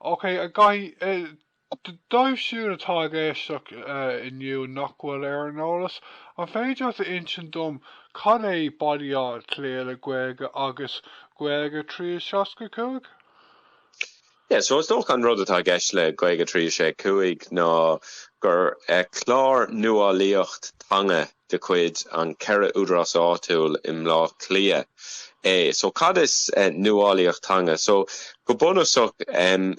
Ok, a Dhaithí, dóibh siúd atá ag éisteacht inniu nach bhfuil ar an eolas, an féidir leat a insint dom cad é Baile Átha Cliath le Gaeilge agus Gaeilge 365? Yeah, so is dócha an rud atá i gceist le Gaeilge 365 ná gur clár nuálaíocht teanga de chuid an 4 údarás áitiúil i mBleá Cliath é. So, cad is nuálaíocht teanga? So, go bunúsach,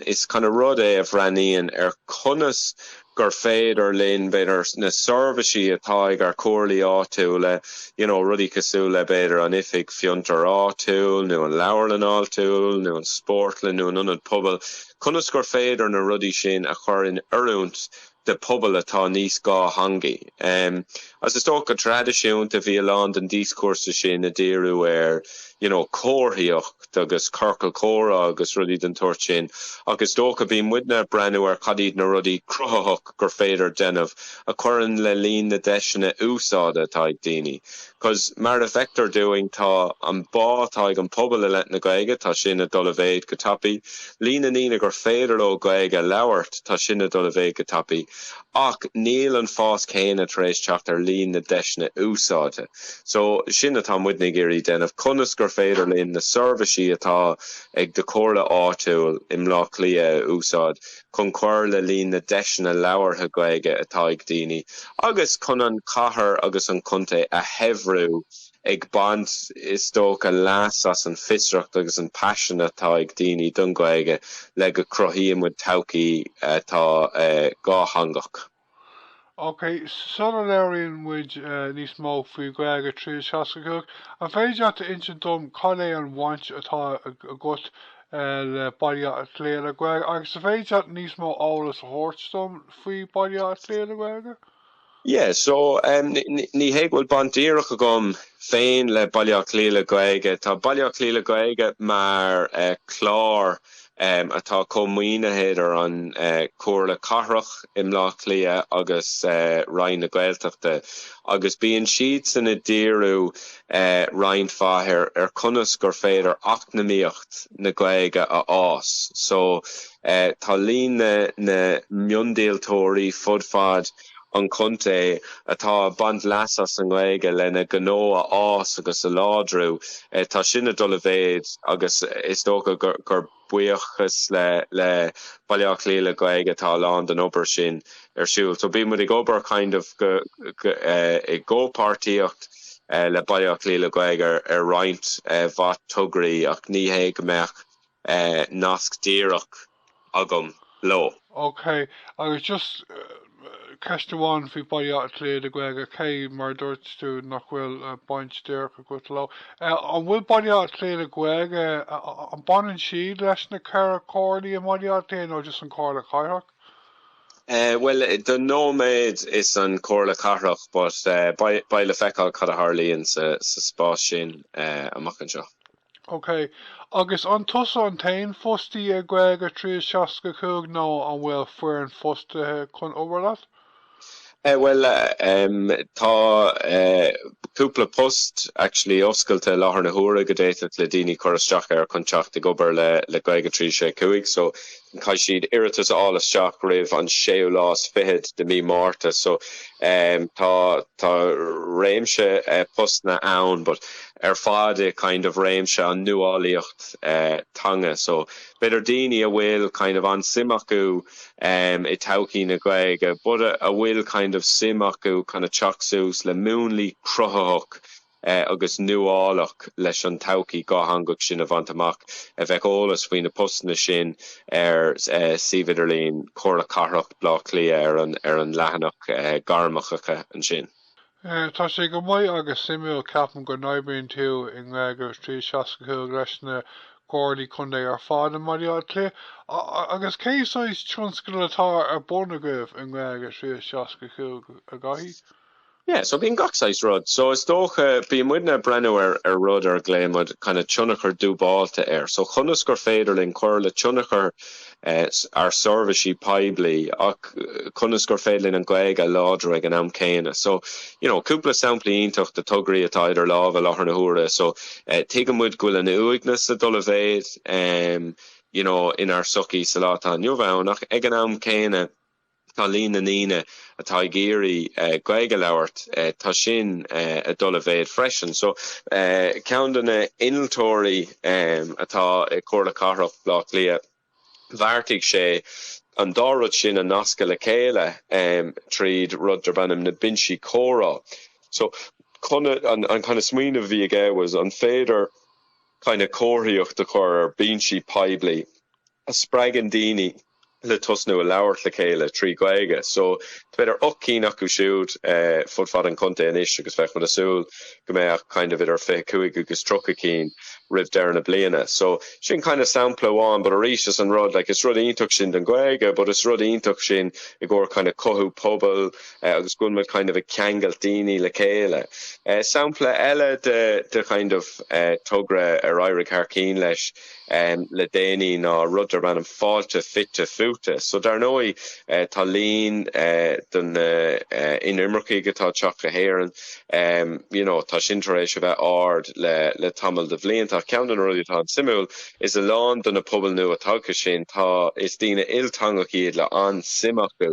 is kind of rud é a bhreathnaíonn ar conas gur féidir linn, b'fhéidir, na seirbhisí atá ag ár comhairlí áitiúla, you know, rudaí cosúil le, b'fhéidir, an oifig fiontar áitiúil nó an leabharlann áitiúil nó an spórtlann nó an ionad pobail, conas gur féidir na rudaí sin a chur in oiriúint de phobal atá níos dhátheangaí. Agus is dócha go traidisiúnta bhí a lán den díoscúrsa sin ag díriú ar, you know, comharthaíocht agus ciorcal comhrá agus rudaí den tsórt sin, ach is dócha bhí muidne ag breathnú ar cad iad na rudaí cruthaitheach gur féidir déanamh a chuireann le líon na deiseanna úsáide atá ag daoine, Because mar a feictear dúinn tá an bá atá ag an pobal i leith na Gaeilge, tá sin ag dul i mhéid go tapaidh. Líon na ndaoine gur féidir leo Gaeilge a labhairt, tá sin ag dul i mhéid go tapaidh. Ach níl an fás céanna tar éis teacht ar líon na deiseanna úsáide. So sin atá muidne ag iarraidh déanamh, conas gur féidir linn na seirbhisí atá ag do Comhairle áitiúil i mBleá Cliath a úsáid, chun cur le líon na deiseanna labhartha Gaeilge atá ag daoine agus chun an chathair agus an contae a shaibhriú, ag baint, is dócha, leas as an fiosracht agus an paisean atá ag daoine don Ghaeilge le go cruthaíonn muid todhchaí atá dhátheangach. OK, sula labhraíonn muid níos mó faoi Ghaeilge 365, an féidir leat a insint dom cad é an bhaint atá agat le Baile Átha Cliath le Gaeilge? Agus an féidir leat níos mó eolas a thabhairt dom faoi Baile Átha Cliath le Gaeilge? Yeah, so ní hé go bhfuil baint dhíreach agam féin le Baile Átha Cliath le Gaeilge, tá Baile Átha Cliath le Gaeilge mar chlár um, atá comh-mhaoinithe idir an Chomhairle Cathrach i mBleá Cliath agus Roinn na Gaeltachta agus bíonn siadsan ag díriú roinnt mhaith ar conas gur féidir eacnamaíocht na Gaeilge a fhás so tá líon na miondíoltóirí fud fad an chontae atá ag baint leas as an nGaeilge lena gnó a fhás agus a láidriú. Tá sin ag dul i mhéid agus is dócha gur buíochas le Baile Átha Cliath le Gaeilge atá a lán den obair sin ar siúl. So bíonn muid ag obair kind of i gcomhpháirtíocht le Baile Átha Cliath le Gaeilge ar roinnt mhaith tograí ach ní hé go mbeadh nasc díreach agam leo. OK, agus just ceist amháin faoi Baile Átha Cliath le Gaeilge, cé, mar a dúirt tú, nach bhfuil baint díreach agat leo, an bhfuil Baile Átha Cliath le Gaeilge, an baineann siad leis na ceithre chomhairlí i mBaile Átha Cliath nó just an Comhairle Cathrach? Bhuel, don nóiméad is an Comhairle Cathrach, but beidh le feiceáil cad a tharlaíonn sa spás sin amach anseo. OK. Agus an tusa an t-aon fostaí i nGaeilge 365 nó an bhfuil foireann fostaithe chun obair leat? Eh bhuel em tá eh cúpla post actually oscailte i láthair na huaire go d'fhéadfadh le daoine cur isteach air chun teacht ag obair le Gaeilge 365 so Caithfidh siad iarratas a fháil isteach roimh an séú lá is fichead de mí Márta so tá réimse postanna ann but ar fad i kind of réimse an nuálaíocht teanga so b'fhéidir daoine a bhfuil kind of an-suim acu i todhchaí na Gaeilge but a bhfuil kind of suim acu kind of teacht suas le múnlaí cruthaitheach agus nuálach leis an todhchaí dhátheangach sin a bhaint amach. Beidh eolas faoi na postanna sin ar suíomh idirlín Chomhairle Cathrach Bhleá Cliath ar an ar an leathanach Gairmeacha ansin. Tá sé go maith agus suimiúil, ceapaim go n-oibríonn tú i nGaeilge 365 leis na Comhairlí Contae ar fad i mBaile Átha Cliath agus cé saghas tionscadal atá ar bun agaibh i nGaeilge 365 a Dhaithí? Yeah, so bíonn gach saghas rud. So is dócha, bíonn muid ag breathnú ar ar rud ar a nglaonn muid kind of tionchar dúbáilte air. So conas gur féidir linn cur le tionchar eh ár seirbhísí poiblí ach conas gur féidir linn an Ghaeilge a láidriú ag an am céanna. So you know cúpla sampla iontach de tograí atá idir lámha i láthair na huaire. So eh tuigeann muid go bhfuil an uaigneas ag dul i méid em you know inár sochaí sa lá atá inniu ann ach ag an am céanna, Tá líon na ndaoine atá ag iarraidh Gaeilge a labhairt, tá sin ag dul i méid freisin. So ceann de na hinnealtóirí atá i Comhairle Cathrach Bhleá Cliath, bheartaigh sé an dá rud sin a nascadh le chéile tríd rud darb ainm na Binsí Comhrá. So an kind of smaoineamh a bhí aige was an féidir kind of comharthaíocht a chur ar bhinsí poiblí a spreagann daoine, le tosnú ag labhairt le chéile trí Ghaeilge. So, tá b'fhéidir ocht cinn acu siúd fud fad an chontae anois agus beidh muid ag súil go mbeadh kind of idir fiche cúig agus tríocha cinn roimh deireadh na bliana. So, sin kind of sampla amháin but arís is an rud like is rud iontach sin don Ghaeilge but is rud iontach sin i gcomhair kind of cothú pobail agus go bhfuil muid kind of ag ceangailt daoine le chéile. Sampla eile de kind of togra ar éirigh thar cinn leis, le déanaí ná rud darb ainm Fáilte Fite Fuaite so dar ndóigh tá líon de na inimircigh atá ag teacht go hÉireann you know tá sin tar éis a bheith ard le tamall de bhlianta ach ceann de na rudaí atá an-suimiúil is a lán de na pobail nua tagtha sin tá is daoine ilteangach iad le an-suim acu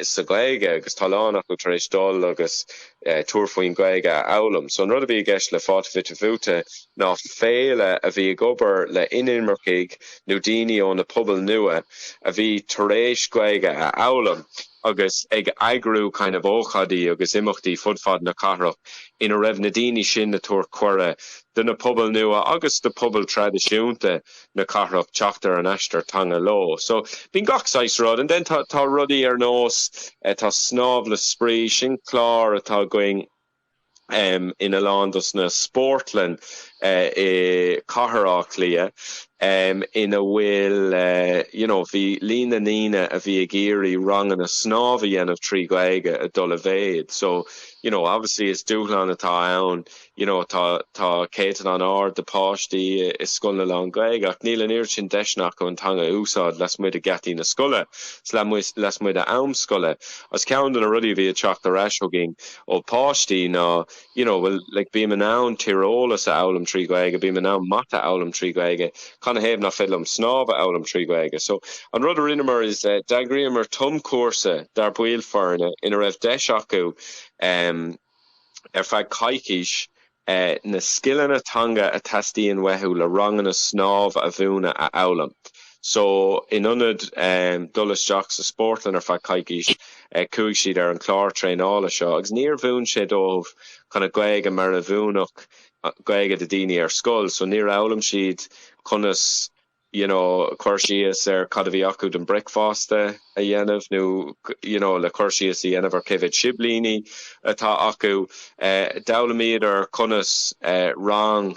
sa Ghaeilge agus tá a lán acu tar éis dul agus tabhairt faoin Ghaeilge a fhoghlaim. So an rud a bhí i gceist le Fáilte Fite Fuaite ná féile a bhí ag obair le inimircigh nó daoine ó na pobail nua a bhí tar éis Gaeilge a fhoghlaim agus ag eagrú kind of ócáidí agus imeachtaí fud fad na cathrach ina raibh na daoine sin ag tabhairt cuireadh do na pobail nua agus do pobail traidisiúnta na cathrach teacht ar an aistear teanga leo. So, bíonn gach saghas rud. And then tá, tá rudaí ar nós, eh, tá Snámh le Spraoi, sin clár atá againn, em, in a lán dos na spórtlainn, eh, i Cathair Áth Cliath, em, ina bhfuil, eh, you know, bhí líon na ndaoine a bhí ag iarraidh ranganna snámh a dhéanamh trí Ghaeilge ag dul i méid. So, you know, obviously is dúshlán atá ann you know tá tá céatadán ard de páistí i scoileanna lán-Ghaeilge ach níl an oiread sin deiseanna acu an teanga a úsáid lasmuigh de gheataí na scoile lasmuigh de am scoile agus ceann de na rudaí a bhí ag teacht ar ais chugainn ó páistí ná you know bhuel like bím in ann tíreolas a fhoghlaim trí Ghaeilge bím in ann mata a fhoghlaim trí Ghaeilge canathaobh nach féidir liom snámh a fhoghlaim trí Ghaeilge so an rud a rinneamar is d'eagraíomar tumchúrsa dár baill foirne ina raibh deis acu um ar feadh coicís, na scileanna teanga a theastaíonn uathu le ranganna snámh a mhúineadh a fhoghlaim. So, in ionad dul isteach sa spórtlann ar feadh coicís, chuaigh siad ar an chlár traenála seo agus níor mhúin sé dóibh chun a Gaeilge mar a mhúinfeadh Gaeilge do daoine ar scoil. So, níor fhoghlaim siad conas. you know cur síos ar cad a bhí acu don bricfeasta a dhéanamh nó you know le cur síos a dhéanamh ar cé mhéad siblíní atá acu. D'fhoghlaimíodar conas rang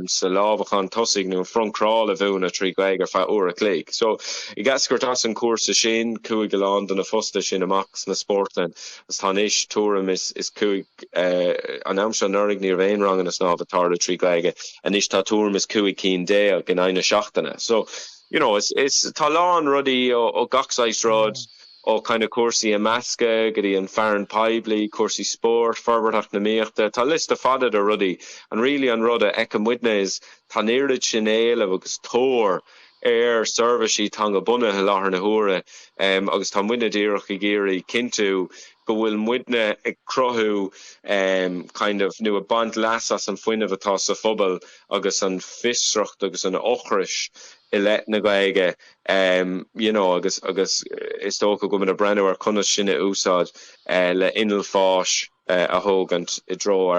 sa lámhachán tosaigh nó an front crawl a mhúineadh trí Ghaeilge ar feadh uair a chloig. So I guess díreach as an cúrsa sin chuaigh a lán de na fostaithe sin amach sna spórtlainn agus tá anois tuairim is cúig An am seo anuraidh ní raibh aon ranganna snámha ag tarlú trí Gaeilge, anois tá tuairim is cúig cinn déag in aghaidh na seachtaine. So, you know, is, tá a lán rudaí ó gach saghas rud, ó kind of cúrsaí imeasctha go dtí an fearann poiblí, cúrsaí spóirt, forbairt eacnamaíochta, tá liosta fada de rudaí and really an rud a fheiceann muide is tá an oiread sin éileamh agus tóir ar seirbhísí teanga bunaithe i láthair na huaire agus tá muidne díreach ag iarraidh cinntiú go bhfuil muidne ag cruthú kind of nó ag baint leas as an fuinneamh atá sa phobal agus an fiosracht agus an ocras i leith na Gaeilge you know agus agus is dócha go bhfuil muid ag breathnú ar conas sin a úsáid le inneall fáis eh, a thógaint i dtreo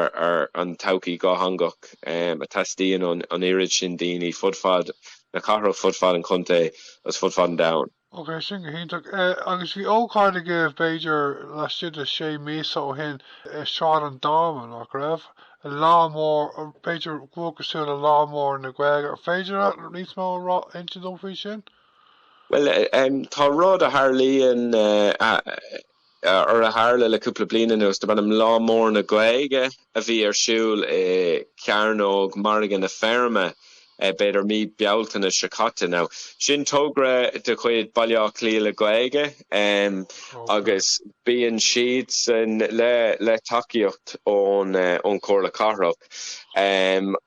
an todhchaí dhátheangach em a teastaíonn ón an oiread sin daoine fud fad na cathrach, fud fad an chontae agus fud fad an domhain. Ok, sin go hiontach. Agus bhí ócáid agaibh, b'fhéidir, laistigh de sé míosa ó shin i Sráid an Dáma, nach raibh? Lá mór, b'fhéidir go cosúil le Lá Mór na Gaeilge, ar féidir leat níos mó a insint dom faoi sin? Bhuel, em, tá rud a tharlaíonn, eh, a. ar a tharla le cúpla bliain anuas, darb ainm Lá Mór na Gaeilge, a bhí ar siúl i Cearnóg Mhargadh na Feirme, b'fhéidir mí Bealtaine seo caite. Now, sin togra de chuid Baile Átha Cliath le Gaeilge agus bíonn siadsan le tacaíocht ón Chomhairle Cathrach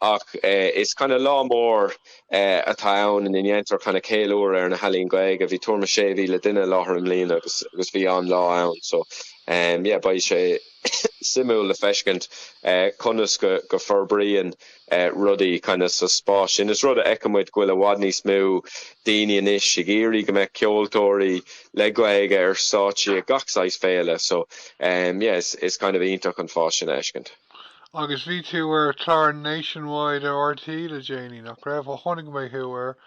ach is kind of lá mór atá ann ina ndéantar kinda ceiliúradh ar na healaíona Gaeilge. Bhí tuairim is 6,000 duine i láthair i mbliana agus agus bhí an-lá ann. So yeah beidh sé suimiúil le feiscint conas go go forbraíonn rudaí kinda sa spás sin. Is rud a fheiceann muid go bhfuil i bhfad níos mó daoine anois ag iarraidh go mbeadh ceoltóirí le Gaeilge ar stáitsí ag gach saghas féile. So yeah is is kind of iontach an fás sin a fheiscint. Agus bhí tú ar chlár Nationwide ar RTÉ le déanaí, nach raibh? Ó chonaic mé thú air,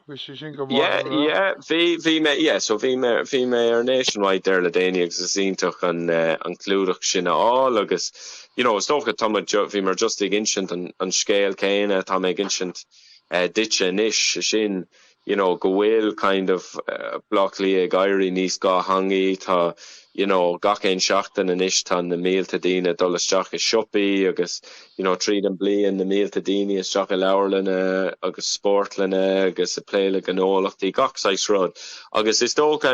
bhí sé sin go maith, Yeah, an raibh? yeah, bhí, bhí mé, yeah, so bhí mé, bhí mé ar Nationwide there le déanaí agus is iontach an, an clúdach sin a fháil agus, you know, is dócha, tá muid, bhí mé just ag insint an, an scéal céanna atá mé ag insint duitse anois, sin, you know go bhfuil kind of Bleá Cliath ag éirí níos dátheangaí, tá you know gach aon seachtain anois tá na mílte daoine ag dul isteach i siopaí agus you know tríd an bliain na mílte daoine isteach i leabharlanna agus spórtlanna agus ag plé le gnólachtaí gach saghas rud agus is dócha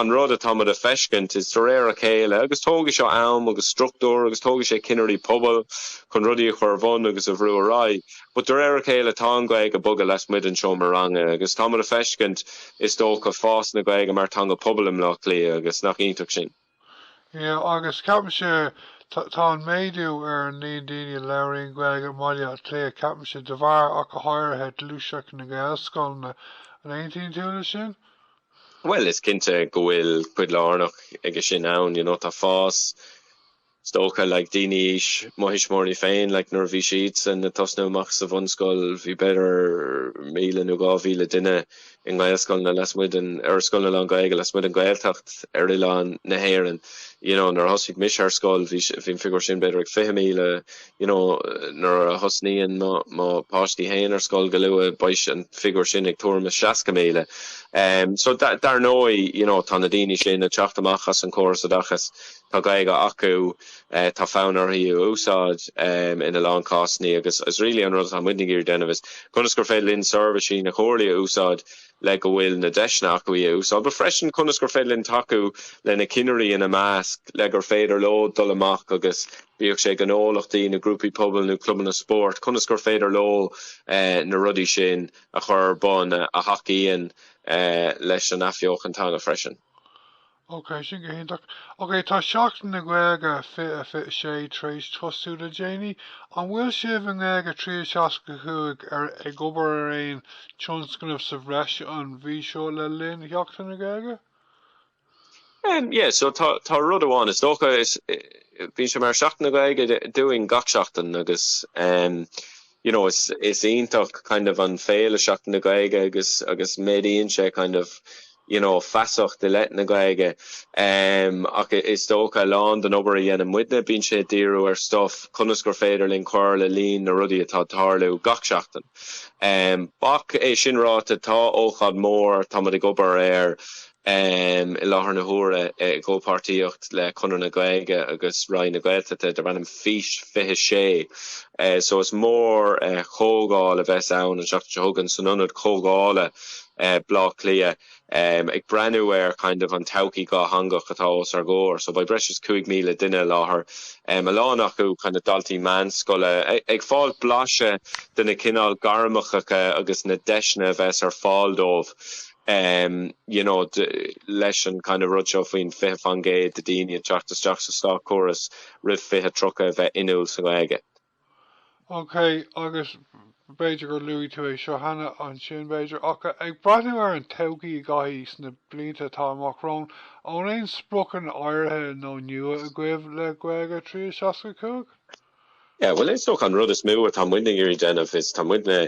an rud atá muid a feiscint is de réir a chéile agus tógfaidh seo am agus struchtúr agus tógfaidh sé cinnirí pobail chun rudaí a chur ar bun agus a bhrú ar aghaidh. But de réir a chéile tá an Ghaeilge ag bogadh lasmuigh den seomra ranga agus tá muid a feiscint, is dócha, fás na Gaeilge mar theanga pobail i mBleá Cliath agus nach iontach sin? Yeah agus ceapaimse tá an méadú ar an líon daoine a labhraíonn Gaeilge i mBaile Átha Cliath ceapaimse de bharr ach go háirithe gluaiseacht na Gaelscoileanna, an aontaíonn tú le sin? Bhuel is cinnte go bhfuil cuid lárnach aige sin ann, you know tá fás, is dócha, like daoine aois mo thuismitheoirí féin, like nuair a bhí siadsan ag tosnú amach sa bhunscoil bhí b'fhéidir 1,000 nó 2,000 duine i nGaelscoileanna lasmuigh den, or scoileanna lán-Ghaeilge lasmuigh den Ghaeltacht ar oileán na hÉireann, you know. Nuair a thosaigh mise ar scoil bhí, bhí an figiúr sin b'fhéidir ag 20,000, you know. Nuair a thosnaíonn mo, mo páistí féin ar scoil go luath beidh an figiúr sin ag tuairim is 60,000. So dar ndóigh, you know, tá na daoine sin ag teacht amach as an córas oideachais, Tá Gaeilge acu, tá fonn orthu í a úsáid ina lán cásannaí agus is really an rud atá muidne ag iarraidh déanamh is conas gur féidir linn seirbhísí na Comhairlí a úsáid le go bhfuil na deiseanna acu í a úsáid but freisin conas gur féidir linn tacú leis na ceannairí ina measc le gur féidir leo dul amach agus bíodh sé gnólachtaí nó grúpaí pobail nó clubanna spóirt conas gur féidir leo na rudaí sin a chur ar bun a thacaíonn leis an athbheochan teanga freisin. OK, sin go hiontach. OK, tá Seachtain na Gaeilge 2026 tar éis tosú le déanaí. An bhfuil sibh i nGaeilge 365 ag obair ar aon tionscnamh sa bhreis an mhí seo le linn Sheachtain na Gaeilge? Em, yeah, so tá, tá rud amháin, is dócha, is, eh, bíonn sé mar Seachtain na Gaeilge dúinn gach seachtain agus, em, you know is is iontach kind of an féile seachtain na gaeilge agus agus méadaíonn sé kind of you know feasacht i leith na gaeilge um ach is dócha lán den obair a dhéanann muidne bíonn sé díriú ar stuff conas gur féidir linn cur le líon na rudaí atá tarlú gach seachtain um ach é sin ráta tá ócáid mór tá muid ag obair air i láthair na huaire i gcomhpháirtíocht le Conradh na Gaeilge agus Roinn na Gaeltachta darb ainm Fís 26 so is mórchomhdháil a bheas ann an seachtain seo chugainn san ionad comhdhála Bleá Cliath ag breathnú ar kind of an todhchaí dhátheangach atá os ár gcomhair so beidh breis is 5,000 duine i láthair, a lán acu kind of daltaí meánscoile, ag fáil blaiseadh de na cineál gairmeacha agus na deiseanna a bheas ar fáil dóibh. em you know leis an kind of rud seo faoin fiche faoin gcéad de daoine a teacht isteach sa státchóras roimh fiche tríocha a bheith inniúil sa nGaeilge. ok agus b'fhéidir gur luaigh tú é seo cheana ansin b'fhéidir ach ag breathnú ar an todhchaí a Dhaithí sna blianta atá amach romhainn an bhfuil aon spriocanna áirithe nó nua agaibh le Gaeilge 365? Yeah, bhuel is dócha an rud is mó atá muidne ag iarraidh déanamh is tá muidne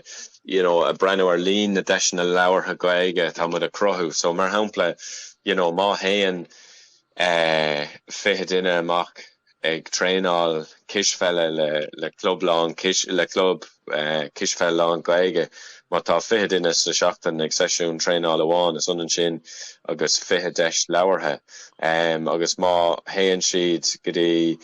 you know ag breathnú ar líon na deiseanna labhartha Gaeilge atá muid ag cruthú so mar shampla you know má théann eh fiche duine amach ag traenáil cispheile le le club lán le club Cispheil lán Gaeilge. Má tá 20 duine sa tseachtain ag seisiún traenála amháin, is ionann sin agus 20 deis labhartha. Agus má théann siad go dtí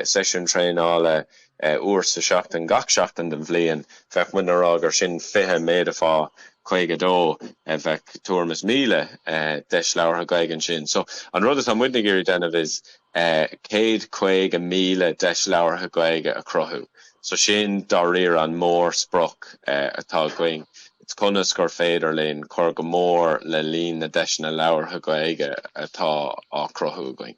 seisiún traenála uair sa seachtain gach seachtain den bhliain, bheadh muidne ag rá gur sin 20 méadaithe fá 52, bheadh tuairim is 1,000 deis labhartha Gaeilge ansin. So, an rud atá muidne ag iarraidh déanamh is céad caoga míle deis labhartha Gaeilge a chruthú. So sin dáiríre an mórsprioc atá againn, is conas gur féidir linn cur go mór le líon na deiseanna labhartha Gaeilge atá á cruthú againn.